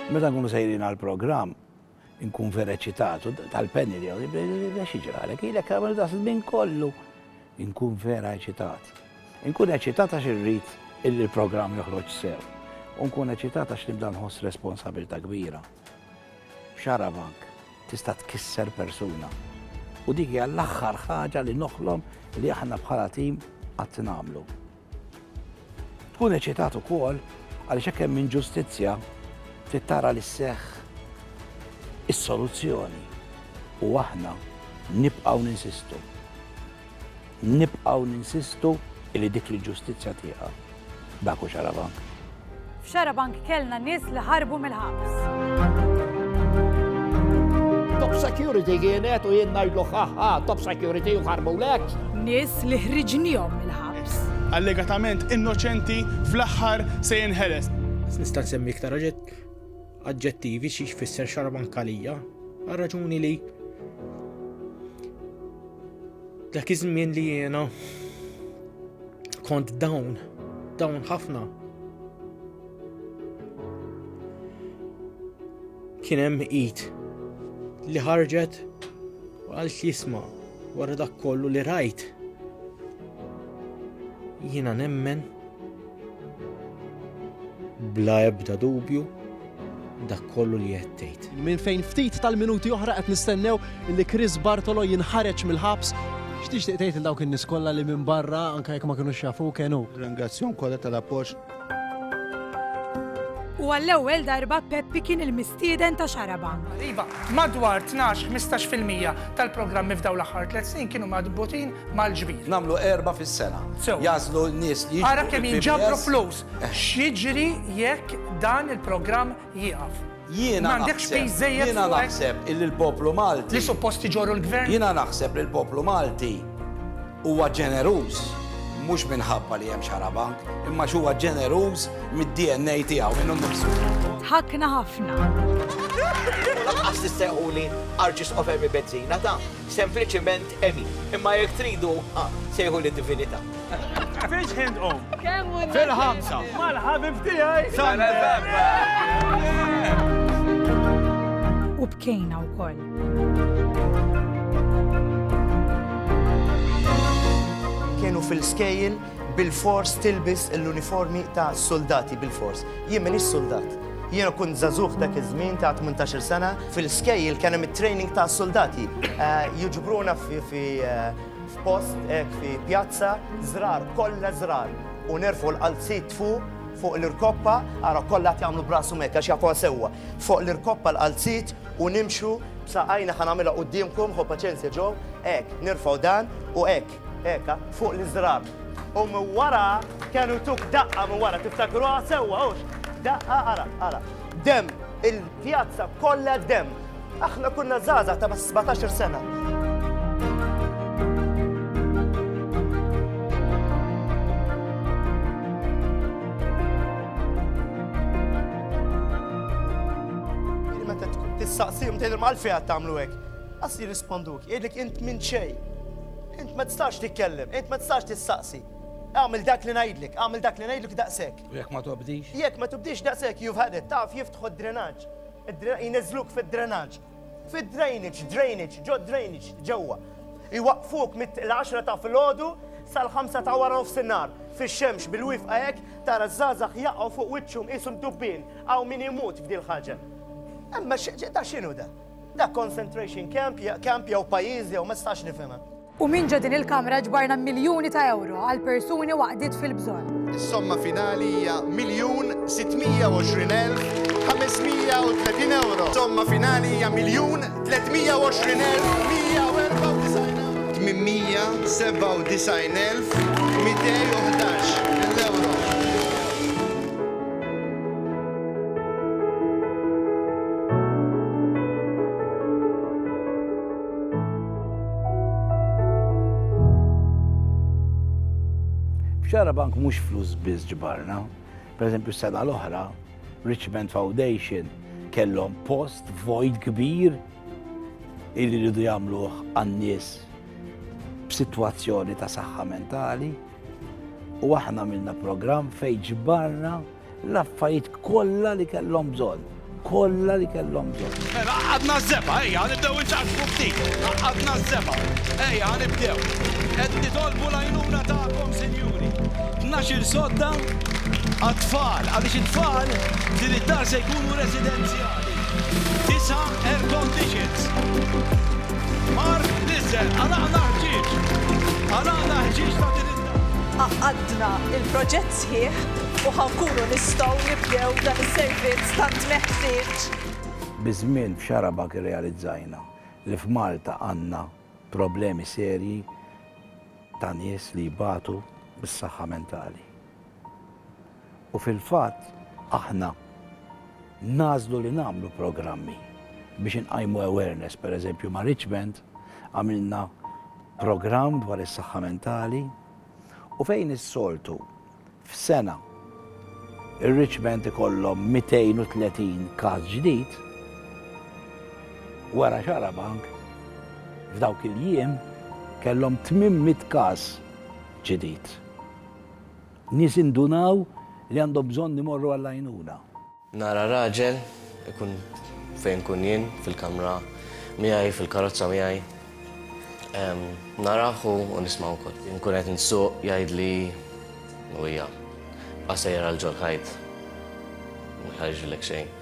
Meta nkunu sejrin għal programm nkun vera ċitatu tal-penni li għaw, xieġralek, ilek għamil da minn kollu, nkun vera ċitat. Nkun ċitat għax irrit il-programm joħroġ sew, nkun ċitat għax nibda nħoss responsabilta kbira. Xarabank tista' tkisser persuna u dik hija l-aħħar ħaġa li noħlom li aħna bħala tim qatt nagħmlu. Tkun eċitat ukoll għaliex hekk hemm inġustizzja trid tara li sseħħ is-soluzzjoni u aħna nibqgħu ninsistu Nibqgħu ninsistu li dik il-ġustizzja tieqa'. Dak hu Xarabank. F'Xarabank kellna nies li ħarbu mill-ħabs. Top security kienet u jien ngħidlu ħaħħa top security u ħarbulek. Nies li ħriġnihom mill-ħabs. Allegatament innoċenti fl-aħħar se jinħeles. Nista' nsemmi iktar oġġett aġġettivi xi jfisser xarabankalija għal raġuni li dak iż-żmien li jiena kont dawn dawn ħafna kien hemm id li ħarġet u għal jisma wara dak kollu li rajt. Jiena nemmen Bla ebda dubju, dak kollu li qed tgħid. Minn fejn ftit tal-minuti oħra qed nistennew li Chris Bartolo jinħareġ mill-ħabs. X'tixtieq tgħid il dawk in-nies kollha li minn barra anke jekk ma kinux jafu kenu? Ringrazzjahom kollha tal-appoġġ. U għall-ewwel darba Peppi kien il-mistieden ta' Xarabank. Iva, madwar 12-15% tal-programmi f'dawn l-aħħar tliet snin kienu madbutin mal-ġbir. Nagħmlu erba' fis-sena. Sew. Jagħżlu n-nies li jiġbru. Ara kemm jinġabru fil-PBS. flus. X'jiġri jekk dan il-programm jieqaf? Jiena M'għandekx naħseb- piż żejjed Jiena fuqek? naħseb illi l-poplu Malti. Li suppost iġorru l-gvern? Jiena naħseb li l-poplu Malti huwa ġeneruż mhux minħabba li hemm xarabank, imma x'huwa ġeneruż mid-DNA tiegħu minnu nnifsu. Ħakna ħafna. U lanqas tistejquli arġis ofer mi benzina ta'. Sempliċiment Emi. Imma jekk tridu, ah, sejħu li Divinità. Fiex ħin tqum? Kemm hu Fil-ħamsa. Mal-ħabib tiegħi. U bkejna wkoll. Kienu fil-skejjel Bilfors tilbis l-uniformi ta' suldati, bilfors. Jien m'iniex suldat. Jiena kont żagħżugħ dak iż-żmien ta' tmintax-il sena. Fil-skejjel kien hemm it-training ta' suldati. Jiġbruna fi f'post hekk fi pjazza, żrar, kollha żrar, u nerfgħu l-qalziet fuq, fuq l-irkoppa, ara kollha qed jagħmlu b'rashom hekk għax jafuha sewwa, fuq l-irkoppa l-qalziet u nimxu b'saqajna ħa nagħmilha quddiemkom, ħo paċenzja Joe, hekk, nirfgħu dan u hekk. Eka, fuq l-iżrar. U minn wara kienu tuk daqqa minn wara tiftakruha sewwa hux. Daqqa ara, ara. Demm, il-pjazza kollha demm. Aħna kunna żgħażagħ ta' bas 17-il sena. Tistaqsihom tgħidilhom għalfejn qed tagħmlu hekk. Qas jirrisponduk, jgħidlek int minn xejn. Int ma tistax titkellem, int ma tistax tistaqsi. Agħmel dak li ngħidlek, agħmel dak li ngħidlek daqshekk. U jekk ma tobdix? Jekk ma tobdix daqshekk you've had it, taf jiftħu d-drenaġġ. Jniżżluk fid-drenaġġ. Fid-drainage, drainage, ġo drainage, ġewwa. Iwaqqfuk mill-10 ta' filgħodu sal-5 ta' wara nofsinhar. Fix-xemx bil-wifqa hekk tara ż-żgħażagħ jaqgħu fuq wiċċhom qishom dubbien, hawn min imut f'dil-ħaġa. Imma da x'inhu da? Dak concentration camp, camp jew pajjiż jew ma stax nifhimha. U minn ġo din il-Kamra ġbarna miljuni ta' euro għal persuni waqdiet fil-bżonn. Is-somma finali hija miljun 620,530 euro. Somma finali hija miljun 320,194 euro. Xara bank mhux flus biss ġbarna. Per eżempju, sena l-oħra, Richmond Foundation kellhom post void kbir illi ridu jagħmluh għan-nies b'sitwazzjoni ta' saħħa mentali. U aħna minna programm fejn ġbarna l-affarijiet kollha li kellhom bżonn. Kollha li kellhom bżonn. Mela għadna żeba, ejja nibdew inċaqsmu ftit. Għadna żeba, ejja nibdew. Qed nitolbu l-għajnuna tagħkom, sinjuri. Tnax-il sodda għat-tfal, għaliex it-tfal din id-dar se jkunu residenzjali. Tisa' air conditions. Mark Lisse, Għalaqna ħġieġ. Għalaqna ħġieġ ta' din id-dar. Għaqqadna l-proġett sħiħ u ħa nkunu nistgħu nibdew dan is-servizz tant meħtieġ. Biż-żmien f'Xarabagħ irrealizzajna li f'Malta għandna problemi serji ta' nies li jbatu bis-saħħa mentali. U fil-fatt aħna nagħżlu li nagħmlu programmi biex inqajmu awareness. Pereżempju ma' Richmond għamilna programm dwar is-saħħa mentali u fejn is-soltu f'sena ir-Richmond ikollhom 230 każ ġdid, wara xarabank f'dawk il-jiem kellhom 800 każ ġdid. Nies indunaw li għandhom bżonn imorru għall-għajnuna. Nara raġel, ikun fejn nkun jien, fil-kamra miegħi, fil-karozza miegħi. Narah u nismgħu wkoll. Inkun qed insuq jgħidli u hija bqa' sejjer għal ġol-ħajt. Ma jħarġilek xejn.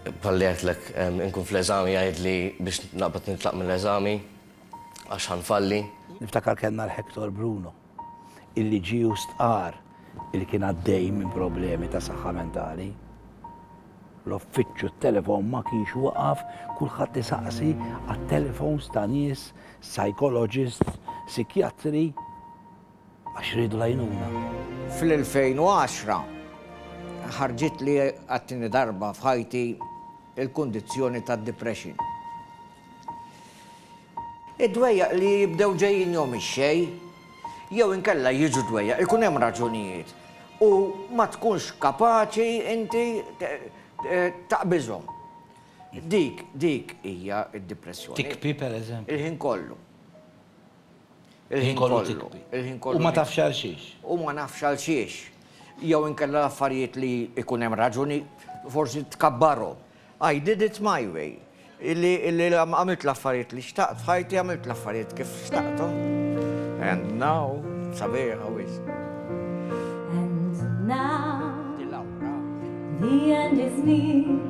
Bħalli għedtlek, inkun fl-eżami jgħidli biex naqbad nitlaq mill-eżami għax ħa nfalli. Niftakar kellna l-Hector Bruno. il-liġi u stqarr li kien għaddej minn problemi ta' saħħa mentali. L-offiċċju t-telefon ma kienx waqaf kulħadd isaqsi għat-telefons ta' nies, psychologist, psikjatri għax ridu lajnuna. Fl-2010 ħarġit li għattini darba f'ħajti il-kondizjoni ta' depression. Id-dwejjaq li jibdew ġejjinhom ix-xejn, jew inkella jiġu dwejjaq, ikun hemm raġunijiet u ma tkunx kapaċi inti taqbiżhom. Dik, dik hija d-dipressjoni. Tikbi, per eżempju. Il-ħin kollu. Il-ħin kollu tikbi. Il-ħin kollu. U ma tafx għal xiex. U ma nafx għal xiex. Jew inkella l-affarijiet li jkun hemm raġuni forsi tkabbarhom. I did it my way. Illi għamilt l-affarijiet li xtaqt f'ħajti, għamilt l-affarijiet kif xtaqthom. And now, sabiħa wisq. And now, the end is near.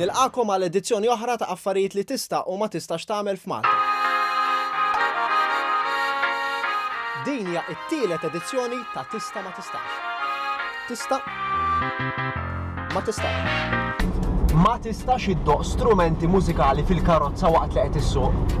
Nilqagħkom għal edizzjoni oħra ta' Affarijiet li Tista' u Ma Tistax Tagħmel f'Malta. Din hija t-tielet edizzjoni ta' Tista' Ma Tistax. Tista' Ma Tistax. Ma tistax iddoqq strumenti mużikali fil-karozza waqt li qed issuq.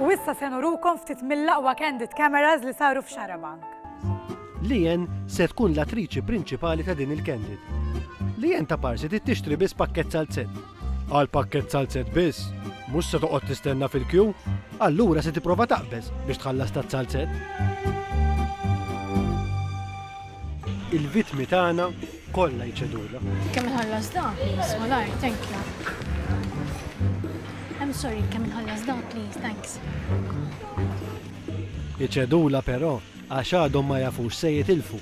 U issa se nurukom ftit mill-aqwa candid cameras li saru f'Xarabank. Lian se tkun l-attriċi prinċipali ta' din il-candid. Lian ta' Parsi trid tixtri biss pakkett salzett. Għal pakkett salzett biss? Mhux se toqgħod tistenna fil-kju? Allura se tipprova taqbeż biex tħallas taz-salzett. Il-vittmi tagħna Kollha jċedulha. Kemm inħallas dan, please, malajr, thank you. I'm sorry, kemm inħallas dan, please, thanks. Iċedula però għax għadhom ma jafux se jitilfu.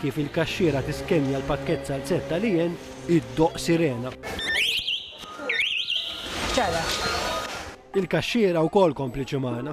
Kif il-kaxxiera tiskenja l-pakket salzett tal-ien, id-doq sirena. Il-kaxxiera wkoll kompliċi magħna.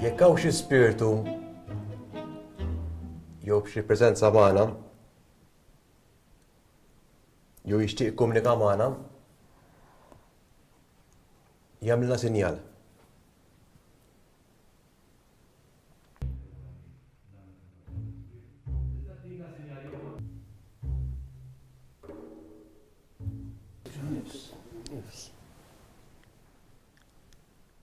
Jekk hawn xi spirtu jew xi preżenza magħna jew jixtieq jikkomunika magħna, jagħmilna sinjal.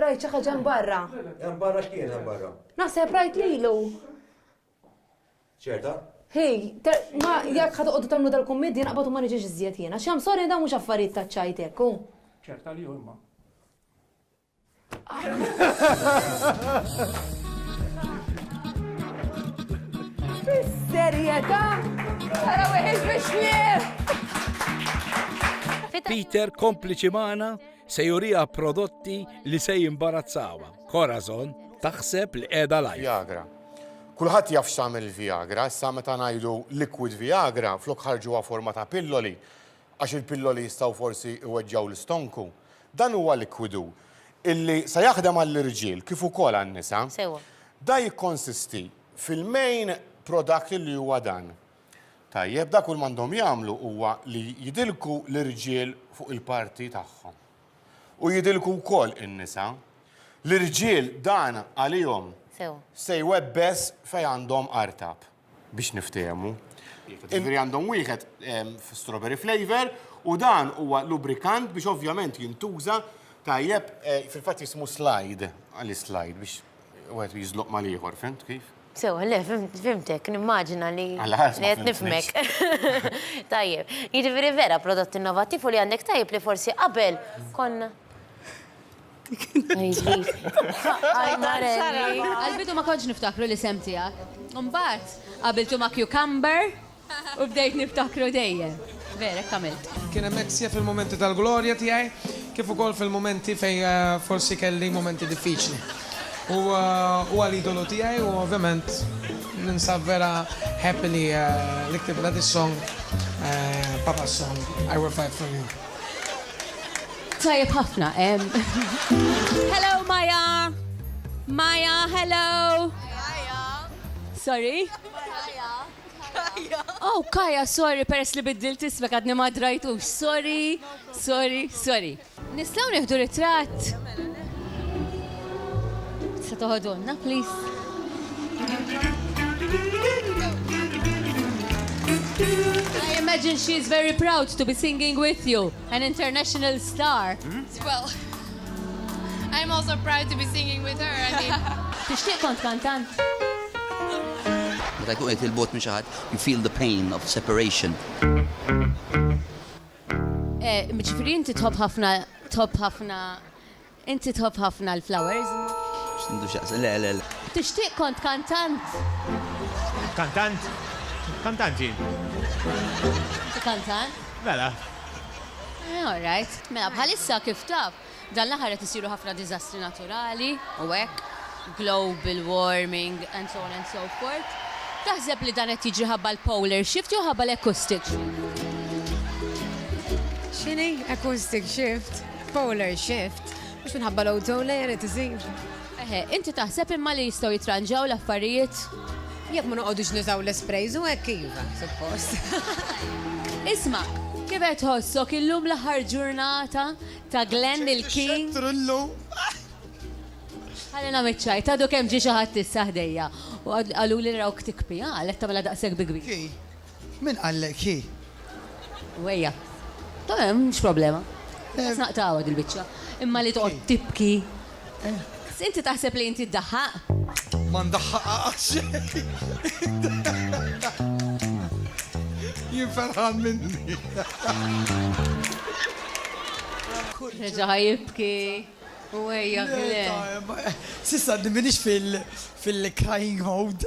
Rajt xi ħaġa hemm barra. Hemm barra x'kien hemm barra? Naħseb rajt lilu. Ċerta? Hi, ma jekk ħad toqgħodu tagħmlu dal-kummedji naqbad u ma niġix iżjed jiena. X'hemm sorry dawn mhux affarijiet ta' ċajt hekk hu. Ċerta li huma. Fis-serjetà? Ara weħiex biex Peter kompliċi magħna Se juriha prodotti li se jimbarazzawha. Corazon taħseb li qiegħda live. Viagra. Kulħadd jaf x'tagħmel il-Viagra, issa meta ngħidu liquid Viagra flok ħarġuha forma ta' pilloli għax il-pilloli jistgħu forsi iweġġgħu l-istonku. Dan huwa likwidu illi se jaħdem għall-irġiel kif ukoll għan-nisa. Sewwa. Da jikkonsisti fil-main product li huwa dan. Tajjeb, dak kull m'għandhom jagħmlu huwa li jidilku l-irġiel fuq il-parti tagħhom. U jidilku wkoll in-nisa. L-irġiel dan għalihom se jwebbes fejn għandhom artab, biex niftehmu. Jiġifieri għandhom wieħed strawberry flavour u dan huwa lubrikant biex ovvjament jintuża tajjeb, fil-fatt jismu slide, għaliex slide, biex wieħed jiżloq mal-ieħor, fhimt kif? Sewa, le, fimtek, nimmaġina li qed nifhmek. Tajjeb, jiġifieri vera prodott innovattiv u li għandek tajjeb li forsi qabel konna. Għall-bidu ma kontx niftakru l-isem tiegħek. Imbagħad qabiltu ma' cucumber. U bdejt niftakru dejjem. Vera, hekk għamilt. Kien hemmhekk sija fil-mumenti tal-glorja tiegħi kif ukoll fil-mumenti fejn forsi kelli mumenti diffiċli. U huwa l-idolu tiegħi u ovvjament ninsab vera happy li li ktibtla this song, Papa's song, I will fight for you. Tajjeb ħafna. Hello Maya! Maya, hello! Maya! Sorry? Maya! Kaja. Oh, Kaja, sorry, peress li biddilt ismek għadni ma drajtux. Sorry, sorry, sorry. Nistaw nieħdu ritratt? Se toħodonna, please. I imagine she is very proud to be singing with you. An international star. Well, I'm also proud to be singing with her, I mean. Tixtieq kont kantant? Meta jkun qed il-bogħod minn xi ħadd, you feel the pain of separation. Ġifieri inti tħobb ħafna tħobb ħafna Inti tħobb ħafna l-flowers? X'għandu x'jaqsam, le, le, le. Tixtieq kont kantant? Kantant? Kantant jien. Inti kantant? Mela. All right. Mela bħalissa kif taf, dan l-aħħar qed isiru ħafna diżastri naturali u hekk, global warming and so on and so forth. Taħseb li dan qed jiġri ħabba l-polar shift jew ħabba l-acoustic shift? X'inhi acoustic shift? Polar shift, mhux minħabba l-ozone layer qed isir. Eħe, inti taħseb imma li jistgħu jitranġaw l-affarijiet? Jekk ma noqogħdux nużaw l-isprays u hekk iva, suppost. Isma', kif qed tħossok illum l-aħħar ġurnata ta' Glenn il-King? Xettru llum. Ħallina miċ-ċajt, għadu kemm ġie xi ħadd issa ħdejja u qaluli rawk tikpi, għalhekk tagħmilha daqshekk bi kbir. Ki, Min qallek hi? Wejja. Tamam, mhux problema. Biss naqtgħuha dil-biċċa. Imma li toqgħod tibki. Inti taħseb li inti ddaħħaq? Ma ndaħħaqha għal xejn. Jien ferħan minni. Reġa' ħa jibki. Wejja, le. S'issa għadni m'iniex fil-crying mode.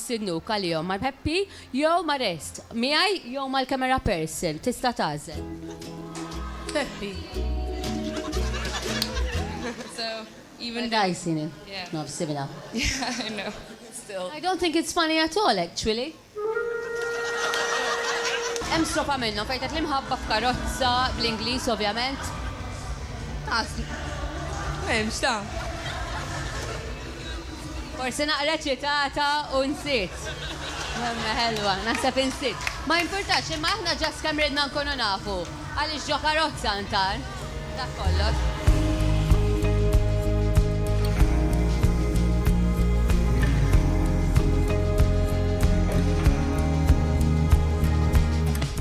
Sinuk għalihom ma' Peppi jew ma' Rest, miegħi jew mal-camera person, tista' tagħżel. Peppi. So, even though. Għadha jsir min? Yeah. Nofs simila. Yeah, I know. Still. I don't think it's funny at all, actually. Hemm strofa minnhom fejn tgħid l-imħabba f'karozza, bl-Ingliż ovvjament. Ta' s. M'hemmx, ta'. Forsi naqra ċitata u nsiet. Imma ħelwa, naħseb insiet. Ma jimpurtax, imma aħna ġast kemm ridna nkunu nafu għaliex ġo karozza ntar. Dak kollox.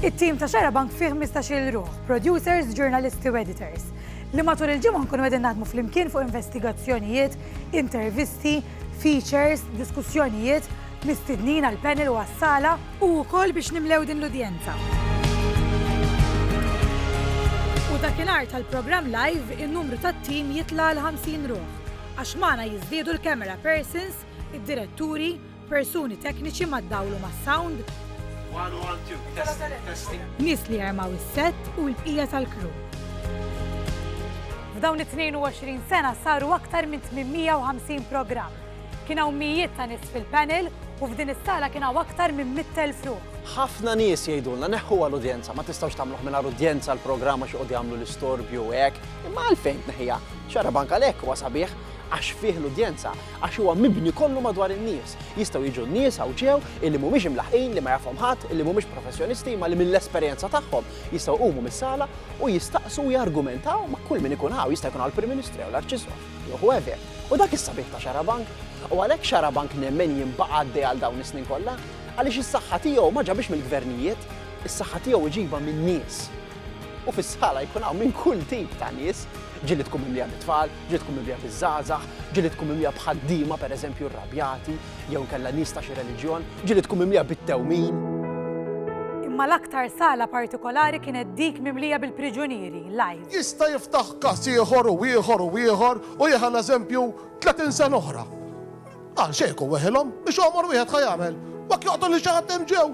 It-tim ta' Xarabank fih ħmistax-il ruħ, producers, ġurnalisti u editors, li matul il-ġimgħa nkunu qegħdin naħdmu flimkien fuq investigazzjonijiet intervisti, features, diskussjonijiet, mistednin għall-panel u għas-sala u wkoll biex nimlew din l-udjenza. U dakinhar tal-programm live in-numru tat-tim jitla' għal 50 ruħ għax magħna jiżdiedu l-camera persons, id-diretturi, Persuni tekniċi ma ddawlu mas-sound. One, one, two, testing, testing. Nies li jarmaw is-set u l-bqija tal-kru. F'dawn it-22 sena saru aktar minn 850 programm. Kien hawn mijiet ta' nies fil-panel u f'din is-sala kien hawn aktar minn 100,000 ruħ. Ħafna nies jgħidulna neħħu għal udjenza ma tistgħux tagħmluh mingħajr udjenza l-programm għax joqgħod jagħmlu l-istorbju hekk, imma għalfejn tneħħiha? Xarab anke għalhekk huwa sabiħ għax fih l-udjenza Għax huwa mibni kollu madwar in-nies. Jistgħu jiġu n-nies hawn ġew illi mhumiex imlaħqin, li ma jafhom ħadd, illi mhumiex professjonisti imma li mill-esperjenza tagħhom jistgħu jqumu mis-sala u jistaqsu u jargumentaw ma' kull min ikun hawn, jista' jkun hawn il-Prim Ministru jew l-Arċisqof jew whoever. U dak is-sabiħ ta' Xarabank. U għalhekk Xarabank nemmen jien baqa' għaddej għal dawn is-snin kollha. Għaliex is-saħħa tiegħu ma ġabhiex mill-gvernijiet, is-saħħa tiegħu iġibha min-nies. U fis-sala jkun hawn minn kull tip ta' nies, ġieli tkun mimlija bit-tfal, Ġilidtkom mimlija biż-żgħażagħ, ġilidtkom mimlija b'ħaddiema, per eżempju, rrabjati, jew inkella nies ta' xi reliġjon, ġilidtkom mimlija bit-tewmin. Imma l-aktar sala partikolari kienet dik mimlija bil-priġunieri, live. Jista' jiftaħ każ ieħor u ieħor u ieħor u jieħa l-eżempju tletin sena oħra. Għal xejn hu weħilhom, mhix għomor wieħed ħa jagħmel. U jekk joqtol lil xi ħadd hemm ġew,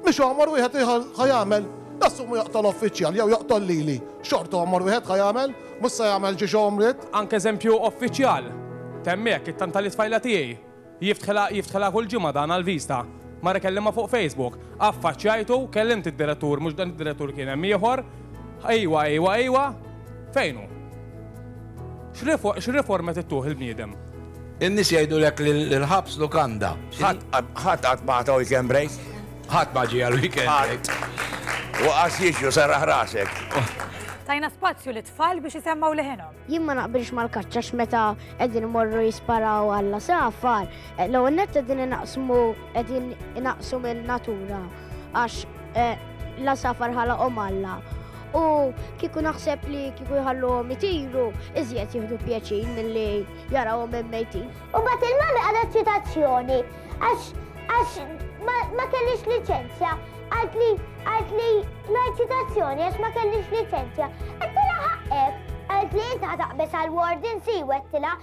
mhix għomor wieħed ħa jagħmel. Nassumu joqtol uffiċjal jew joqtol lili, xorta għomor wieħed ħa jagħmel, mhux se jagħmel xi għomriet. Anke eżempju uffiċjal, temm hekk, it-tant tal-itfajla tiegħi, jiftħilha jiftħilha kull ġimgħa dan għall-viżta. Mar ikellimha fuq Facebook. Affaċċjajtu, kellimt id-direttur, mhux dan id-direttur kien hemm ieħor, Ejwa, ejwa, ejwa, fejn hu? X'riforma trid tuħ il-bniedem? In-nies jgħidulek li l-ħabs lukanda. Ħadd qatt ma għata weekend break. Ħadd ma ġie għal weekend break. U qas jiġu sarah rasek. Tajna spazju li tfal biex jisemmaw leħinhom. Jien ma naqbilx mal-kaċċa x'meta qegħdin imorru jisparaw għalla safar, l-ewwel nett qegħdin inaqsmu qegħdin inaqsu mill-natura. għax eh, la safar ħalaqhom Alla. U kieku naħseb li kieku jħalluhom itiru, iżjed jieħdu pjaċin milli jarawhom hemm mejtin. U bat il-mami għadha ċitazzjoni għax għax ma kellix liċenzja għad li għad li l-eċitazzjoni għax ma kellix liċenzja. Għad tila ħaqqek għad li jinta taqbes għal-warden si wettila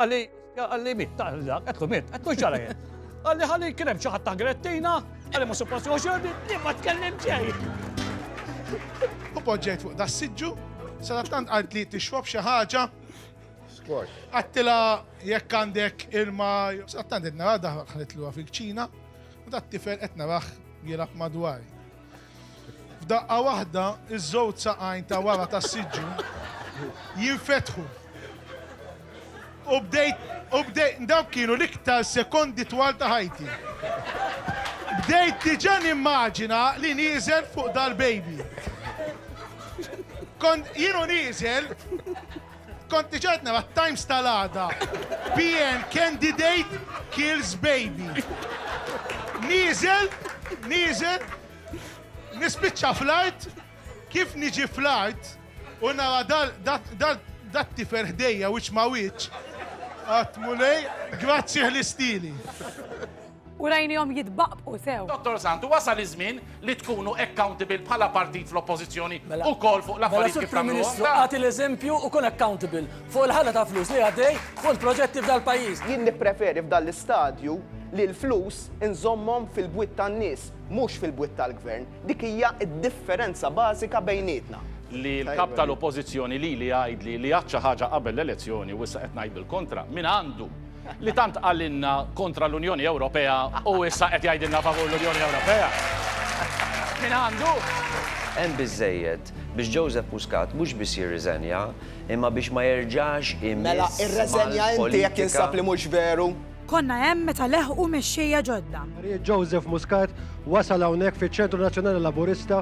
Għalli, għalli mit, għalli, għetlu mit, għetlu ġara jien. Għalli għalli kienem ċaħat ta' grettina, għalli ma suppost joġordi, jien ma tkellim ġej. U poġġejt fuq da s-sidġu, sadattant għalt li t-xwab xaħġa. Squash. Għattila jekk għandek irma, sadattant id-nara daħħalitlu fil-ċina, u dat tifel etna raħ jilab madwari. F'daqqa waħda, iż-żewġ saqajn ta' wara tas-siġġu jinfetħu. U bdejt, u bdejt, dawk kienu l-iktar sekondi twal ta' ħajti. Bdejt diġà nimmaġina li nieżel fuq dal-baby. Kont jienu nieżel, Kont diġà qed nara t-Times tal-għada. PN candidate kills baby. Nieżel, nieżel, nispiċċa fl-art, kif niġi fl-art u nara dat tifer ħdejja wiċċ ma' wiċċ. Għat mulej, grazzi ħlistili. U rajnihom jitbaqqbqu sew. Dottor Sant, wasal iż-żmien li tkunu accountable bħala partit fl-Oppożizzjoni ukoll fuq l-affarijiet kif tagħmluhom. Mela, Sur Prim Ministru, agħti l-eżempju u kun accountable fuq il-ħela ta' flus li għaddej fuq il-proġetti f'dal-pajjiż. Jien nippreferi f'dan l-istadju li l-flus inżommhom fil-bwiet tan-nies, mhux fil-bwiet tal-Gvern. Dik hija d-differenza bażika bejnietna. Li l-Kap tal-Oppożizzjoni lili jgħidli li għadt xi ħaġa qabel l-elezzjoni u issa qed ngħid bil-kontra, min għandu? li tant qalilna kontra l-Unjoni Ewropea u issa qed jgħidilna favur l-Unjoni Ewropea. Min għandu? Hemm biżżejjed biex Joseph Muscat mhux biss jirriżenja, imma biex ma jerġax imiss Mela irreżenja inti jekk insab li mhux veru. Konna hemm meta leħqu mexxejja ġodda. Marijiet Joseph Muscat wasal hawnhekk fiċ-Ċentru Nazzjonali Laburista.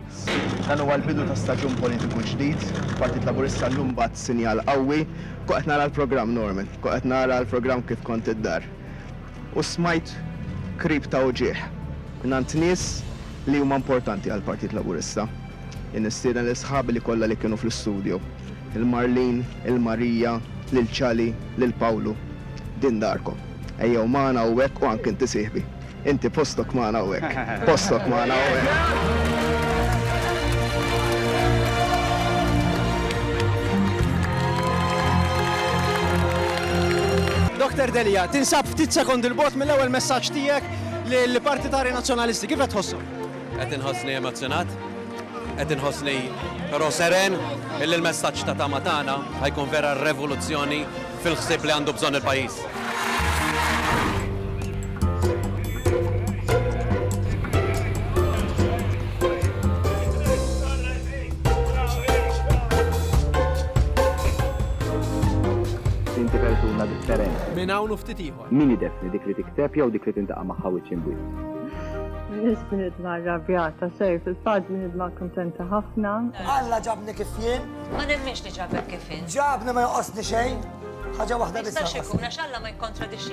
Dan huwa l-bidu ta' staġun politiku ġdid. Partit Laburista llum bagħat sinjal qawwi Kont qed nara l-programm Norman, kont qed nara l-programm kif kont id-dar, u smajt krip ta' uġigħ mingħand nies li huma importanti għall-Partit Laburista. Jien nistieden lil sħabi li kollha li kienu fl-istudju, lil Marlene, lil Maria, lil Chali, lil Pawlu, din darkom. Ejjew magħna hawnhekk u anke inti sieħbi. Inti postok magħna hawnhekk. Postok magħna hawnhekk. Doktor Delia, tinsab ftit sekondi l-bot mill-ewwel messaġġ tiegħek lill partitari Nazzjonalisti. Kif qed tħossu? Qed inħossni emozzjonat, qed inħossni però seren illi l-messaġġ ta' tama tagħna ħajkun vera revoluzzjoni fil-ħsieb li għandu bżonn il-pajjiż. Inti persuna differenti. Minn hawn u ftit ieħor. Min ideffni dik li tikteb jew dik li tintaqa' magħha wiċċ imb. Biss bniedma rrabjata, sej, fil-fatt bniedma kuntenta ħafna. Alla ġabni kif jien. Ma nemminx li ġabek kif jien. Ġabni ma joqosni xejn. Ħaġa waħda biss. Jistax ikun għax Alla ma jikkontradixxi.